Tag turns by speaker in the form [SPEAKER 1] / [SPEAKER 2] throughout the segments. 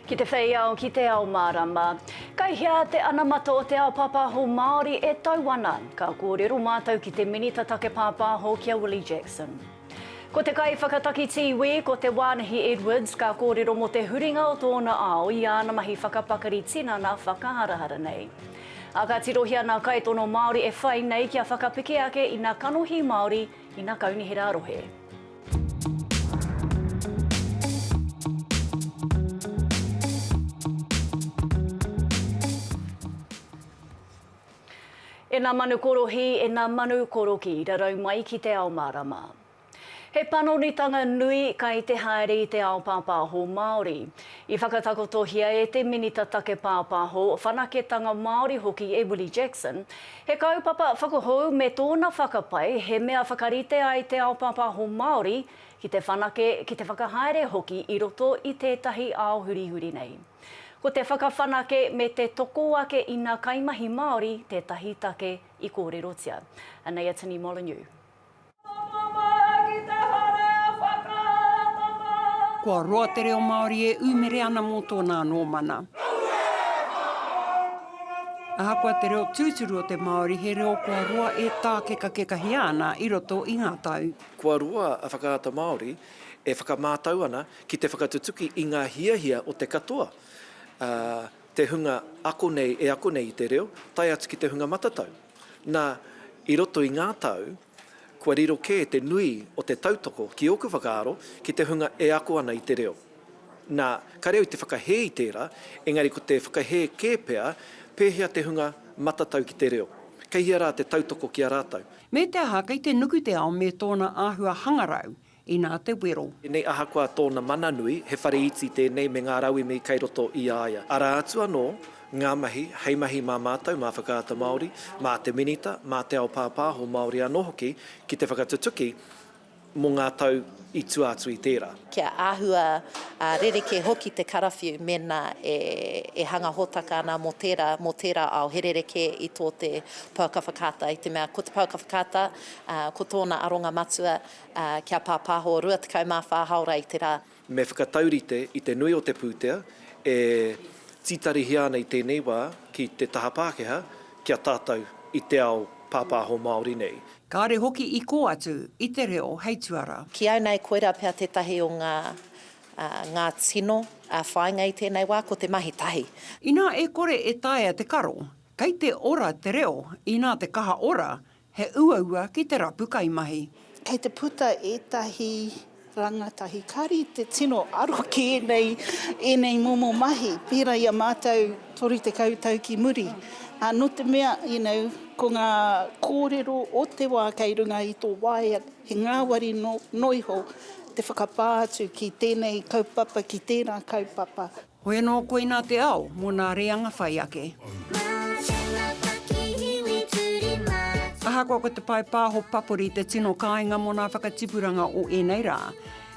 [SPEAKER 1] Ki te whei ao, ki te ao mārama. Kei hea te anamata o te ao pāpāho Māori e tau ana? Ka kōrero mātou ki te Minita Take Pāpāho ki a Willie Jackson. Ko te kaiwhakataki tīwī, ko Te Wānahi Edwards, ka kōrero mō te huringa o tōna ao i āna mahi whakapakari tinana whakaharahara nei. Ā, ka tirohia nā kaitono Māori e whai nei kia whakapeke ake i nā kanohi Māori i nā kaunihera rohe. E nā manu korohī, e nā manu koroki, rarau mai ki te ao mārama. He panonitanga nui kai te haere i te ao pāpāho Māori. I whakatakotohia e te Minita Take Pāpāho, Whanaketanga Māori hoki e Willie Jackson, he kaupapa whakahou me tōna whakapae he mea whakarite ai te ao pāpāho Māori ki te whanake, ki te whakahaere hoki i roto i tētahi ao hurihuri nei. Ko te whakawhanake me te toko ake ina kaimahi Māori tētahi take i kōrerotia. Anei a Tini Molyneux.
[SPEAKER 2] Kua roa te reo Māori e ūmere ana mō tōna anō mana. Ahakoa te reo tūturu o te Māori, he reo kua roa e tākekakekahia ana i roto i ngā tau. Kua roa a
[SPEAKER 3] Whakaata Māori e whakamātau ana ki te whakatutuki i ngā hiahia o te katoa, te hunga ako nei e ako nei i te reo, tae atu ki te hunga matatau. Nā, i roto i ngā tau, kua riro kē te nui o te tautoko, ki ōku whakaaro, ki te hunga e ako ana i te reo. Nā, kāre au i te whakahē i tērā, engari ko te whakahē kē pea pēhea te hunga matatau ki te reo. Kei hea rā te tautoko ki a rātou? Me te aha, kei te
[SPEAKER 2] nuku te ao me tōna āhua hangarau, Inā te wero. Tēnei ahakoa tōna
[SPEAKER 3] mana nui, he whare iti tēnei me ngā rauemi kei roto i a ia. Arā atu anō ngā mahi, hei mahi mā mātou, mā Whakaata Māori, mā te Minita, mā te ao pāpāho Māori anō hoki ki te whakatutuki mō ngā tau i tua atu i tērā. Kia āhua
[SPEAKER 4] rerekē hoki te karawhiu mēnā e hanga hōtaka ana mō tērā, mō tērā ao, he rerekē i tō te pouaka whakaata. I te mea ko te pouaka whakaata, ko tōna aronga matua, Ā, kia pāpāho 24 hāora i te rā. Me whakataurite
[SPEAKER 3] i te nui o te pūtea e tītarihia ana i tēnei wā ki te taha Pākehā ki a tātou i te ao pāpāho Māori nei. Kāre hoki i kō
[SPEAKER 2] atu i te reo hei tuara. Ki au nei koirā
[SPEAKER 4] pea tētahi o ngā, ā, ngā tino, ā, whāinga i tēnei wā, ko te mahi tahi. Inā e kore
[SPEAKER 2] e taea te karo, kei te ora te reo, inā te kaha ora, He uaua ki te rapu kaimahi. Kei te puta
[SPEAKER 5] ētahi rangatahi kari te tino aro ki ēnei, ēnei momo mahi, pērā i a mātou 30 tau ki muri. Ā, nō te mea, you know, ko ngā kōrero o te wā kei runga i tō waea, he ngāwari noa iho te whakapā atu ki tēnei kaupapa, ki tērā kaupapa. Hoi anō koinā
[SPEAKER 2] te ao mō nā reanga whai ake. Ahakoa ko te pae pāho papori te tino kāinga mō nā whakatipuranga o ēnei rā,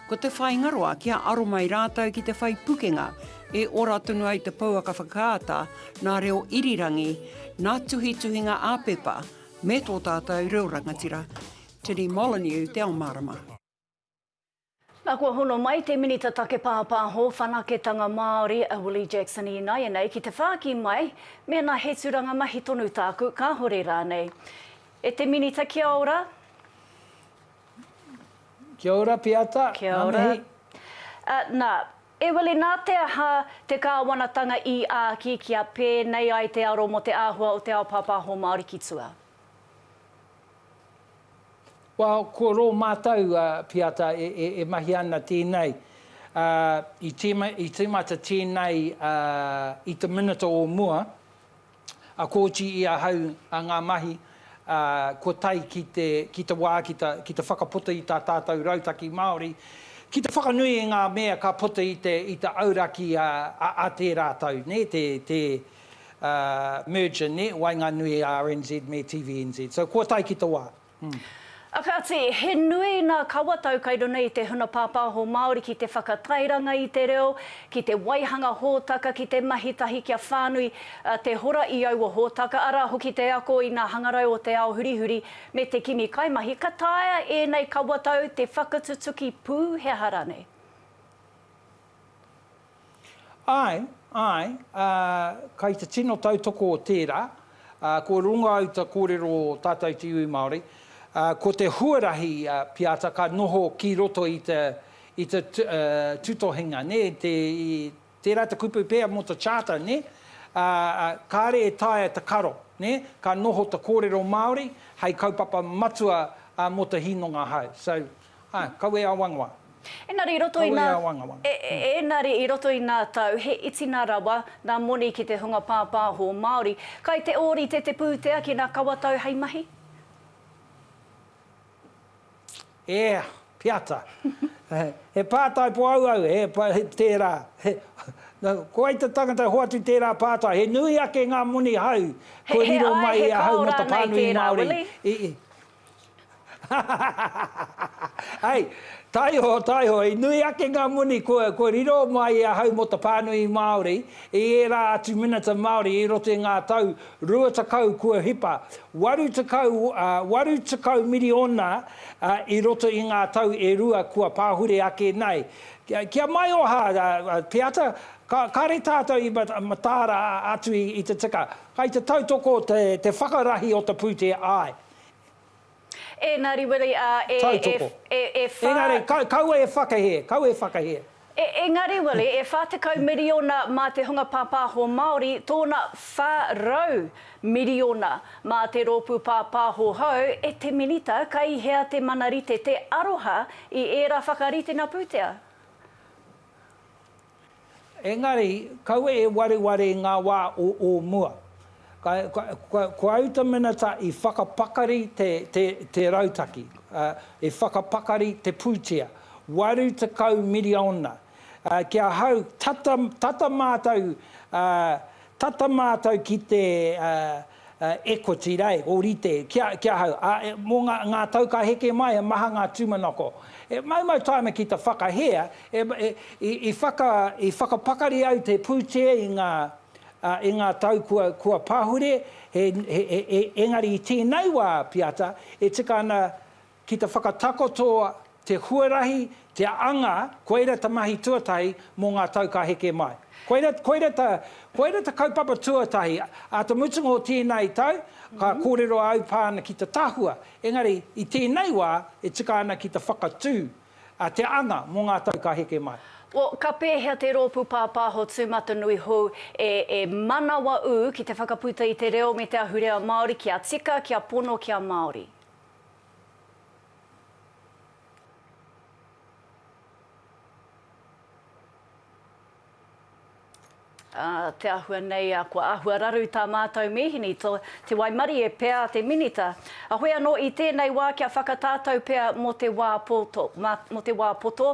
[SPEAKER 2] ko te whāingaroa kia aro mai rātou ki te whai pukenga e ora tonu ai te pouaka whakaata nā reo irirangi, nā tuhituhinga ā-pepa, me tō tātou reo rangatira. Tini Molyneux te ao mārama.
[SPEAKER 1] Nā, kua hono mai te Minita Take Pāpāho Whanaketanga Māori, a Willie Jackson ināianei ki te whāki mai mēnā he tūranga mahi tonu tāku, kāhore rānei. E te Minita kia ora.
[SPEAKER 6] Kia ora Piata, ngā mihi. Kia
[SPEAKER 1] ora. Nā, e Willie, nā te aha te kāwanatanga i āki kia pēnei ai te aro mō te āhua o te ao pāpāho Māori ki tua?
[SPEAKER 6] Well, ko rō mātou piata e mahi ana tēnei, i tīmata tēnei i te minita o mua, a Kōti i ahau ngā mahi, kua tae ki te wā ki te whakaputa i tā tātou Rautaki Māori, ki te whakanui i ngā mea ka puta i te auraki a tērā tau, nē, te. merger nē, waenganui i RNZ me TVNZ. So kua tae ki te wā. A kāti,
[SPEAKER 1] he nui nā kawatau kai runga i te huna pāpāho Māori ki te whakatairanga i te reo, ki te waihanga hōtaka, ki te mahi tahi kia whānui te hora i aua hōtaka, arā hoki te ako i ngā hangarau o te ao hurihuri me te kimi kaimahi. Ka taea ēnei kawatau te whakatutuki pū he aha ranei? Āe,
[SPEAKER 6] āe, ā, kei te tino tautoko o tērā, ā, kua runga au ta kōrero o tātou te iwi Māori, ā, ko te huarahi, ā, Piata ka noho ki roto i te, i te, ā, tūtohinga, nē, te, i, tērā te kupu pea mō te Charter, nē, ā, ā, kāre e taea te karo, nē, ka noho te kōrero Māori hei kaupapa matua, ā, mō te hīnonga hou. So, Ā, kawe awangawa. Engari i roto i
[SPEAKER 1] nā. Kawe awangawa. Engari i roto i nā tau, he itinga rawa nā moni ki te hunga pāpāho Māori. Kai te ōrite te pūtea ki nā kawatau hei mahi?
[SPEAKER 6] E, piata. He pātai po auau, he, tērā. Ko wai te tangata hoatu tērā pātai? He nui ake ngā moni hau kua riro mai i ahau mō te pānui Māori i. Hahahahahaha! Ai, taiho, taiho, i nui ake ngā moni kua, kua riro mai i ahau mō te pānui Māori i ērā atu minita Māori i roto i ngā tau rua tekau kua hipa, waru tekau, ā, waru tekau miriona, ā, i roto i ngā tau e rua kua pāhure ake nei. Ki, ki a Maioha, ā, ā, te ata, ka, kāre tātou i ma, mataara atu i, i te tika, kai te tautoko te, te whakarahi o te pūtea, āe.
[SPEAKER 1] Engari, weri, ā, e, Tautoko. e, e, e whā. Engari,
[SPEAKER 6] kau, kaua e whakahē, kaua e whakahē. E, engari,
[SPEAKER 1] weri, e whā tekau miriona mā te hunga pāpāho Māori tōna whā rau miriona mā te rōpū pāpāho hou e te Minita ka i hea te mana rite te aroha i ērā whakaritenga pūtea?
[SPEAKER 6] Engari, kaua e wareware i ngā wā o ō mua. Ko au te minita i whakapakari te rautaki, i whakapakari te pūtea, waru tekau miriona. Ki ahau, tata mātou ki te. E koti rā, e ōrite, ki a, ki ahau, ā, e, mō ngā, ngā tau ka heke mai he maha ngā tūmanako. E maumau tae ana ki te whakahea, e, e, i, i whaka, i whakapakari au te pūtea i ngā, ā, i ngā tau kua, kua pahure, he, he, he, he, engari i tēnei wā, Piata, e tika ana Ki te whakatakoto te huarahi, te anga, koira ta mahi tuatahi mo nga tau ka heke mai. Koira, koira ta, koira ta kaupapa tuatahi. A te mutunga o tenei tau, ka korero a au pa ana ki te tahua. Engari, i tenei wa, e tika ana ki te whakatu, a, te anga mo nga tau ka heke mai. O, ka pehea
[SPEAKER 1] te ropu papaho tumatanui hou e, e manawa u ki te whakaputa i te reo me te ahurea Maori kia tika, kia pono, kia Maori? Ā, te āhua nei a kua āhua raru i tā mātou mīhini to, te waimarie pea a te Minita. Ahoe anō i tēnei wā kia whakatātou pea mō te wā poto, mā, mō te wā poto,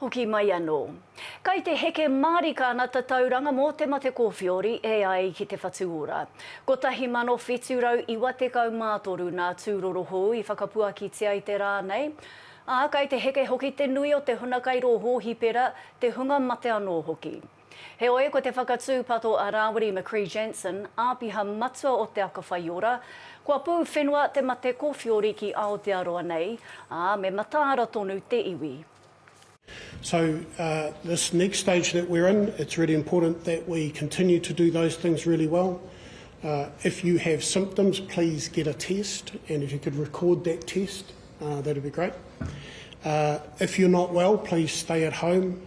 [SPEAKER 1] Hoki mai anō. Kai te heke mārika ana tatauranga mō te mate kōwhiori e ai ki te whatu ora. 1793 nā Tūrorohou i whakapuakitia i te rā nei, ā, kai te heke hoki te nui o te hunakai rōhō hipera, te hunga mate anō hoki. Heoi, ko te whakatūpato a Rāwiri McCrea Jansen, Āpiha Matua o Te Aka Whaiora, kua pū whenua te mate kōwhiori ki Aotearoa nei, ā, me mataara tonu te iwi. So,
[SPEAKER 7] this next stage that we're in, it's really important that we continue to do those things really well. If you have symptoms, please get a test, and if you could record that test, that would be great. If you're not well, please stay at home.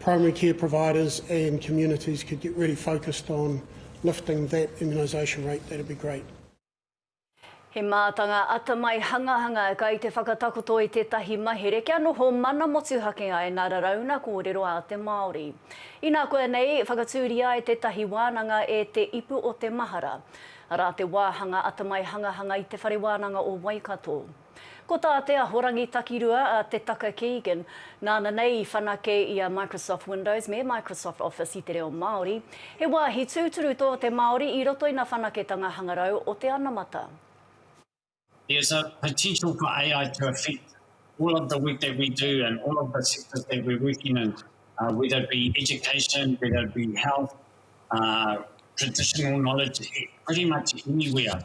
[SPEAKER 7] Primary care providers and communities could get really focused on lifting that immunisation rate, that would be great. He
[SPEAKER 1] mātanga atamai hangahanga kai te whakatakoto i tētahi mahere kia noho mana motuhake ai nā Rarauna kōrero a te Māori. Inā koa nei, whakatūria e tētahi wānanga e Te Ipu o te Mahara. Arā te wāhanga atamai hangahanga i Te Whare Wānanga o Waikato. Ko tā te Ahorangi Takirua a Te Taka Keegan, nāna nei i whanake i a Microsoft Windows me Microsoft Office i te reo Māori, he wāhi tūturu tō te Māori i roto ina whanaketanga hangarau o te anamata.
[SPEAKER 8] There is a potential for AI to affect all of the work that we do and all of the sectors that we're working in, whether it be education, whether it be health, traditional knowledge, pretty much anywhere.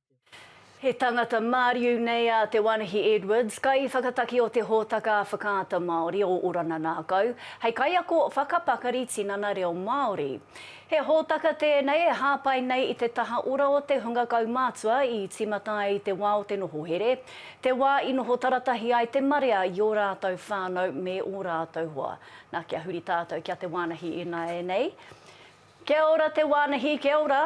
[SPEAKER 1] He tangata māriu nei a Te Wānahi Edwards, kaiwhakataki o te hōtaka Whakaata Māori o Orana Nākau, hei kaiako whakapakari tinana reo Māori. He hōtaka tēnei e hāpai nei i te taha ora o te hunga kaumātua i tīmata ai i te wā o te noho here, te wā i noho taratahi ai te marea i ō rātou whānau me ō rātou hoa. Nā, kia huri tātou ki a Te Wānahi ināianei. Kia ora Te Wānahi, kia ora.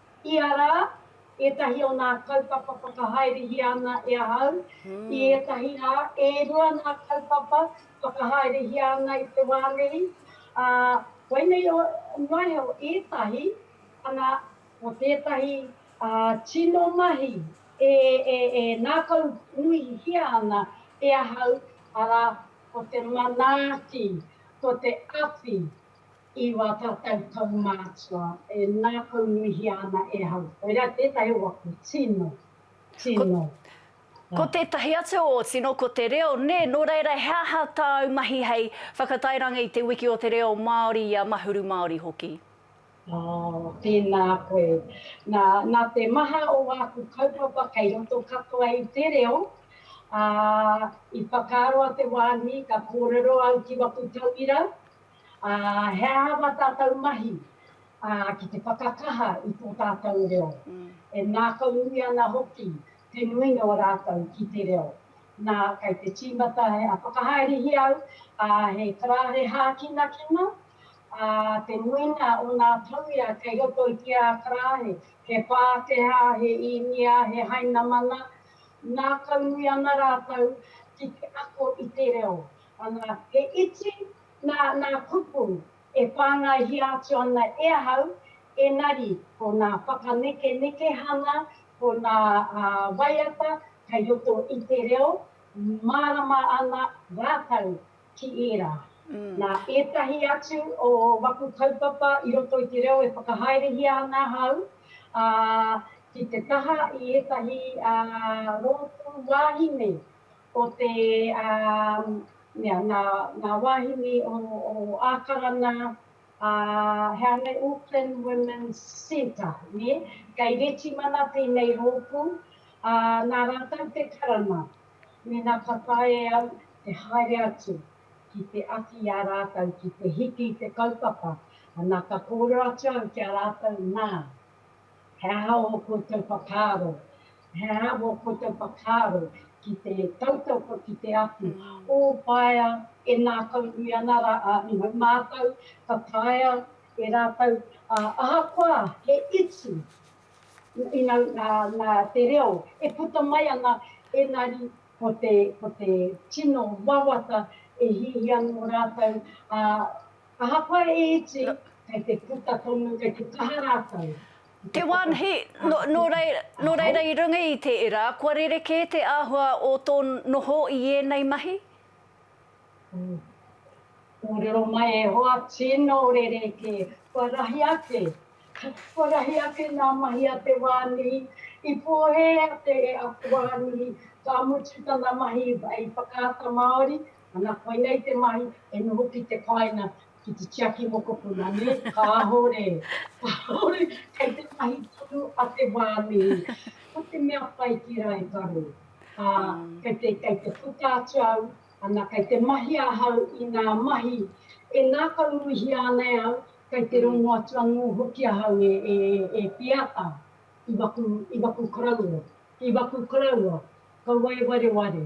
[SPEAKER 9] Ia rā, ētahi o ngā kaupapa whakahaerehia ana e ahau. I ētahi rā, e rua ngā kaupapa whakahaerehia ana i te wā nei, ā, koinei noa iho ētahi, ana, ko tētahi tino mahi e ngākau nuihia ana e ahau, arā, ko te manaaki, ko te awhi. I wā tātou kaumātua e ngākaunuihia ana e hau. Koirā tētahi o aku tino, tino.
[SPEAKER 1] Ko tētahi atu o tino ko te reo, nē, nō reira he aha tāu mahi hei whakatairanga i te wiki o te reo Māori i a Mahuru Māori hoki? Oh,
[SPEAKER 9] tēnā koe. Nā, nā te maha o āku kaupapa kei roto katoa i te reo, ā, i whakaaro a Te Wānui ka kōrero au ki waku tauira, Ā, he aha ngā tātou mahi, ā, ki te whakakaha i tō tātou reo? E ngākau nui ana hoki te nuinga o rātou ki te reo. Nā, kei te tīmata he, ā, whakahaerehia au, ā, he karāre hākinakina, ā, te nuinga o ngā tauira kei roto i te ā karāre, he Pākehā, he Īnia, he Hainamana, ngākau nui ana rātou ki te ako i te reo. Ana, he iti Nā ngā kupu e whāngaihia atu ana e ahau, engari ko ngā whakanekenekehanga, ko ngā waiata kei roto i te reo, mārama ana rātou ki ērā. Nā ētahi atu o waku kaupapa i roto i te reo e whakahaerehia ana ahau, ā, ki te taha i ētahi rōpū wāhine, Ko te mea, ngā wāhine o Ākarana, he aha nei, Auckland Women's Centre, nē? Kei Retimana tēnei rōpū, ā, nā rātou te karanga, mēnā ka taea e au te haere atu ki te awhi i a rātou ki te hiki i te kaupapa, ana, ka kōrero atu au ki a rātou, nā, He aha ō koutou whakaaro? He aha ō koutou whakaaro ki te tautoko ki te awhi? Ōpaea e ngākaunui ana rā a Ihu mātou, ka taea e rātou, ā, ahakoa he iti i ngā, ngā, ngā, te reo e puta mai ana, engari ko te, ko te tino wawata e hiahia anō rātou, ā, Ahakoa e iti, kei te puta tonu, kei te kaha rātou. Te wānhi,
[SPEAKER 1] nō reira i runga i te era, kua rerekē te āhua o tō noho i ēnei mahi?
[SPEAKER 9] Kōrero mai e hoa, tino rerekē, kua rahi ake, kua rahi ake ngā mahi a te wānhi, i pōhēhea te e aku wānhi, ka mutu tana mahi i whakaata Māori, Ana, koinei te mahi, e noho ki te kāinga, ki te tiaki mokopuna, nē? Kāore, kāore, kei te mahi tonu a te wā mihi. Ko te mea pai ki rā e karo, ā, kei te, kei te puta atu au, ana, kei te mahi ahau i ngā mahi e ngākaunuihia ana e au, kei te rongo atu anō hoki ahau e, e, e Piata, i waku, i waku koroua, i waku koroua, kaua e wareware.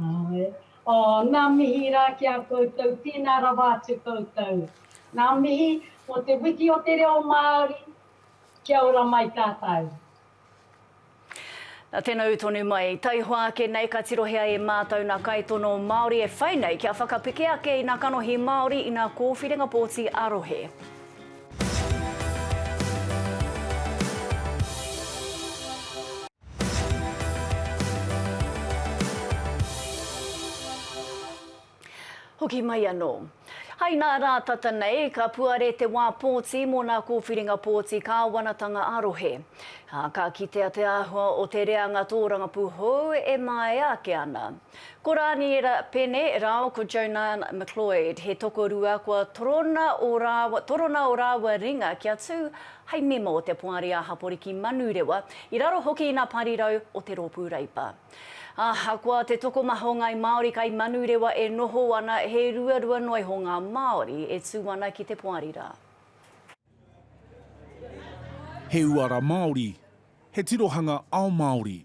[SPEAKER 1] Ae. Oh,
[SPEAKER 9] nga mihi ra ki a koutou, tena rawa atu koutou. Nga mihi mo te wiki o te reo Maori, kia ora mai tatou.
[SPEAKER 1] Na tena u tonu mai, taihoa ake nei ka tirohia e matou na kaitono Maori e whai nei kia whakapeke ake ina kanohi Maori ina kowhiringa poti a rohe. Hoki mai anō. Hai nā rā tata nei, ka puare te wā pōti mō nā kōwhiringa pōti kāwanatanga ā-rohe, ā, ka kitea te āhua o te reanga tōrangapū hou e māia ake ana. Ko Rāniera Pene rāo ko Jonan McLeod, he tokorua kua torona o rāua, torona o rāua ringa kia tū hai mema o te Poari a Haporiki Manurewa, i raro hoki i nā parirau o te Rōpū Reipa. Ahakoa te tokomaha o Ngāi Māori kai Manurewa e noho ana, he ruarua noa iho ngā Māori e tū ana ki te Poari rā.
[SPEAKER 10] He uara Māori, he tirohanga ao Māori.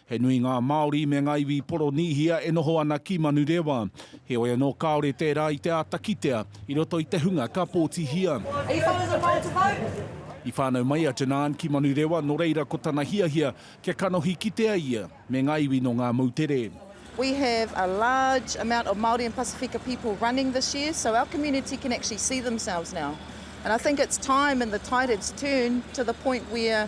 [SPEAKER 10] He nui ngā Māori me ngā iwi Poronīhia e noho ana ki Manurewa. Heoi anō kāore tērā i te āta kitea i roto i te hunga ka pōtihia.
[SPEAKER 11] I whānau mai a
[SPEAKER 10] Janan ki Manurewa nō reira ko tana hiahia kia kanohi kitea ia me ngā iwi nō ngā moutere. We have
[SPEAKER 12] a large amount of Māori and Pasifika people running this year so our community can actually see themselves now and I think it's time in the Tairan's turn to the point where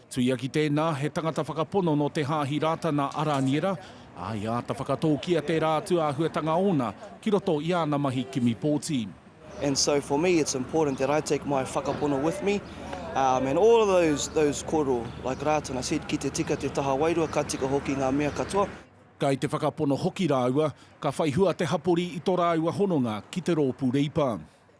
[SPEAKER 13] Tuia ki tēnā,
[SPEAKER 10] he tangata whakapono nō te Hāhi Rātana a Rāniera, ā, i āta whakatōkia tērā atu āhuatanga ōna ki roto i āna mahi kimi pōti. And so for
[SPEAKER 13] me it's important that I take my whakapono with me um and all of those those kōrero, like Rātana said, ki te tika te taha wairua, ka tika hoki ngā mea katoa. Kai te whakapono
[SPEAKER 10] hoki rāua, ka whai hua te hapori i tō rāua hononga ki te rōpū Reipa.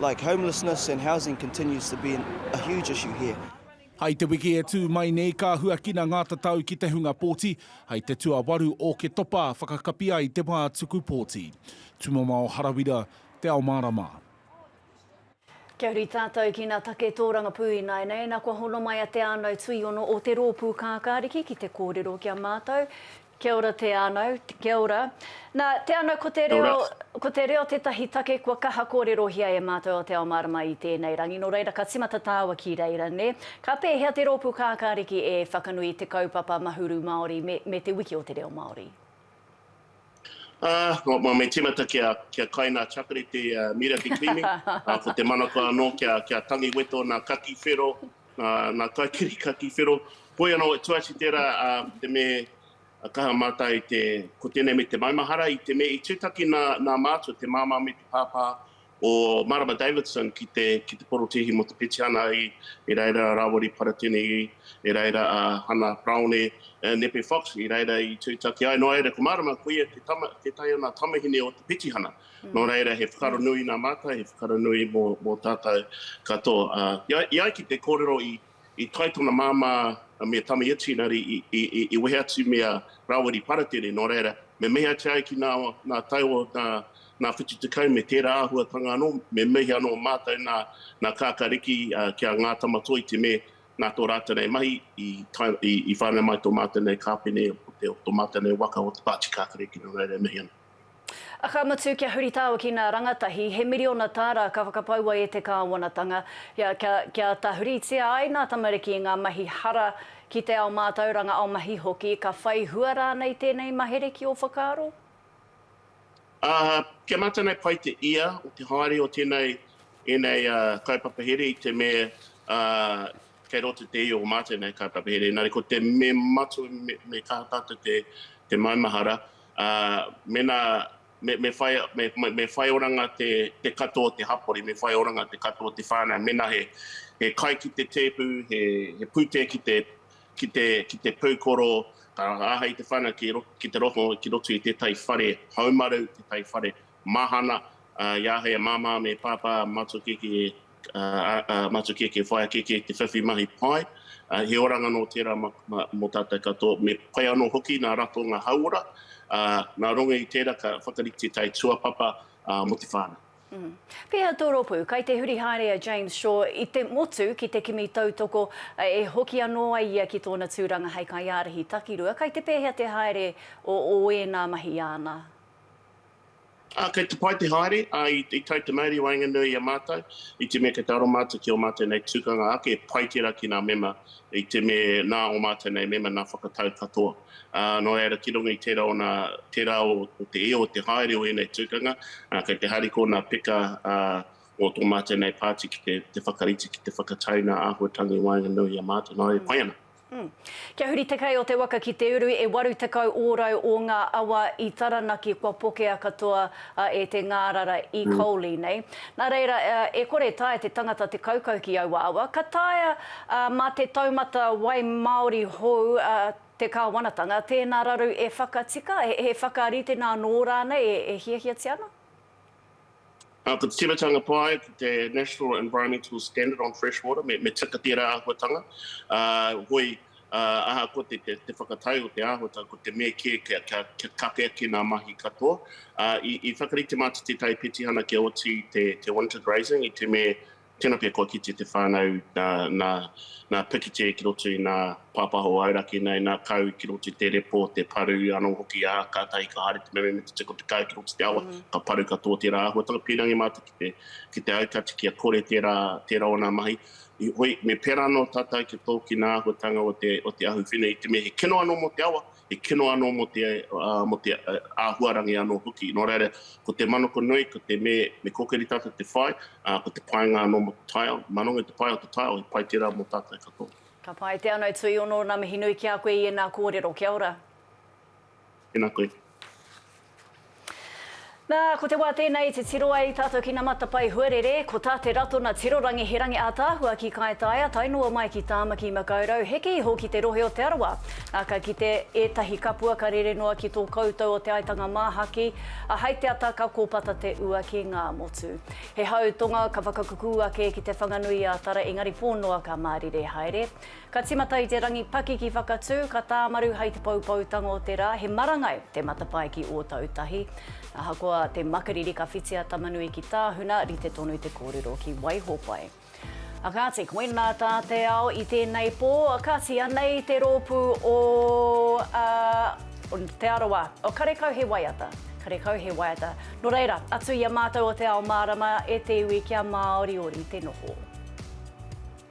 [SPEAKER 13] Like homelessness and housing continues to be a huge issue here. Hai te wiki
[SPEAKER 10] e tū mai nei ka huakina ngā tatau ki te hunga pōti, hai te tuawaru o Ketopa whakakapi ai te wā tuku pōti. Tumamao Harawira, Te Ao Mārama. Kia
[SPEAKER 1] huri tātou ki nā take tōrangapū ināianei, nā kua hono mai a Te Ānau Tuiono o Te Rōpū Kākāriki ki te kōrero ki a mātou. Kia ora Te Anau, kia ora. Na, Te Anau ko te reo, kia ora, ko te reo tetahi take kua kaha korerohia e matou a Te Ao Marama i tenei rangi no reira ka timata taua ki reira ne. Ka pehea te ropu kakariki e whakanui i te kaupapa Mahuru Maori me, me te wiki o te reo Maori? Ah,
[SPEAKER 14] ma, me timata kia, kia kai na Chakarete, uh, Miraki Klimi, ah, ko te manako ano kia, kia tangi weto na Kaki Whero, Nā Taikiri ka tīwhero, Hoi anō, e tuasi tērā ko te me kaha mātai te, ko tēnei me te maumahara i te me i tūtaki nā nā mātua te māmā me te pāpā o Marama Davidson ki te ki te porotēhi mō te petihana i i reira a Rāwari Paratene i i reira a Hana Paraone Nepe Fox i reira i tūtaki ai noa iere ko Marama koia te tama, tētahi o nā tamahine o te petihana. Nō reira, he whakaronui nā mātou, he whakaronui mō, mō tātou katoa. Uh, i, ai ki te kōrero i, i tae tona māmā me Tami Etienari i, i, i, i wehe atu me a Rawiri Paratene, nō reira, me mehe atu ai ki nā, nā tai o nā, nā whitu te kau me tērā āhuatanga anō, me mehe anō mātou nā, nā kākariki uh, ki a ngā tamatoi te me nā tō rātou nei mahi i, tai, i, i whānau mai tō mātou nei kāpene o te, o tō mātou nei waka o te pāti kākariki, nō reira, mehe anō. Ka mutu,
[SPEAKER 1] kia huritao ki ngā rangatahi, he miriona tāra ka whakapaua e te Kāwanatanga, kia, kia, kia tahuritia ai ngā tamariki i ngā mahi hara ki te ao mātauranga, ao mahi hoki, ka whai hua rānei tēnei mahere ki ō whakaaro? Ā,
[SPEAKER 14] kia mātanei pai te ia o te haere o tēnei, ēnei kaupapa here i te me, ā, kei roto te ia o mātou nei kaupapa here, engari ko te me matua, me, me kaha tātou te, te maumahara, ā, mēnā me, me, whai, me, me whai oranga te, te katoa o te hapori, me whai oranga te katoa o te whānau, mēnā he, he kai ki te tēpu, he, he pūtea ki te, ki te, ki te pūkoro, ka āhei te whānau ki, ki te roto, ki roto i tētahi whare haumaru, tētahi whare mahana, ā, i āhei a Māmā me Pāpā Mātukeke a Matukeke Whaekeke te whiwhi mahi pai. He oranga nō tērā mō tātou katoa. Me pai anō hoki nā ratonga hauora, nā runga i tērā ka whakarite tae tuapapa mō te whānau. Pēhea tō
[SPEAKER 1] rōpū? Kai te huri haere a James Shaw i te motu ki te kimi tautoko e hoki anō ai ia ki tōna tūranga hei kaiārahi takirua. Kai te pēhea te haere o ēnā mahi āna?
[SPEAKER 14] Ā, kei te pai te haere, ā, i tae te mauri i waenganui i a mātou, i te mea kei te aro mātou ki ō mātou nei tukanga ake, pai tērā ki ngā mema, i te me nā ō mātou nei mema nā whakatau katoa. Ā, nō reira, ki runga i tērā ona, tērā o te io o te haere o ēnei tukanga, ā, kei te hari kō nā peka, ā, o tō mātou nei pāti ki te, te whakarite, ki te whakataina āhuatanga i waenganui i a mātou. Nō reira, pai ana. Kia huri
[SPEAKER 1] te kei o te waka ki te uru, e 80 ōrau o ngā awa i Taranaki kua pokea katoa e te ngārara i Coley nei. Nā reira, e kore e taea te tangata te kaukau ki aua awa, ka taea mā te taumata wai māori hou te kāwanatanga, tēnā raru e whakatika, he whakaritenga anō rānei e hiahiatia ana?
[SPEAKER 14] Ko te timatanga pai, ko te National Environmental Standard on Freshwater, me, me tika tērā āhuatanga. Uh, hoi, uh, aha ko te, te, te whakatau o te āhuatanga, ko te me kē kia, kia, kia kake ake nā mahi katoa. Uh, i, i whakarite mātou te tai petihana kia oti te, te winter grazing, i te me Tena pea kua kite te whanau na Pikite ki roto i na Papaho o Auraki nei, na Kau ki roto i te repo, te paru ano hoki a, katahi ka haere te meme me te tiko te kau ki roto i te awa, ka paru katoa tera ahuatanga. Pirangi matu ki te aukati kia kore tera ona mahi. Heoi, me pera ano tatou ki to ki na ahuatanga o te ahuwhine i te me he kino ano mo te awa, te kino anō mō te, mō te āhuarangi anō hoki. Nō reira, ko te manako nui, ko te me, me kōkiri tātou te whai, ā, ko te painga anō mō te taiao. Mā runga i te pae o te taiao, he pai tērā mō tātou katoa. Ka pai te anei
[SPEAKER 1] tuiono, na mihi nui ki a koe i ena korero, kia ora.
[SPEAKER 14] Tena koe.
[SPEAKER 1] Nā, ko te wā tēnei i titiro ai tātou ki ngā matapae huarere, ko tā Te Ratona Tiro Rangi he rangi ātaahua ki Kaitaia tae noa mai ki Tāmaki Makaurau, heke iho ki te rohe o Te Arawa. Nā, ka kite ētahi kapua ka rere noa ki tō koutou o Te Aitanga Māhaki, ā, hei te ata ka kōpata te ua ki Ngāmotu. He hau tonga ka whakakukū ake ki Te Whanganui-ā-Tara engari pō noa ka mārire haere. Ka timata i te rangi pakiki whakatū, ka tāmaru hai te poupoutanga o te rā, he marangai te matapae ki Ōtautahi. Ahakoa te makariri ka whiti a Tamanui ki Tāhuna, rite tonu te kōrero ki Waihopai. A kāti, koinā tā te ao i tēnei pō, kāti anei te rōpū o Te Arawa, o karekau he waiata, karekau he waiata. Nō reira, atu i a mātou o Te Ao Mārama e te iwi kia māoriori te noho.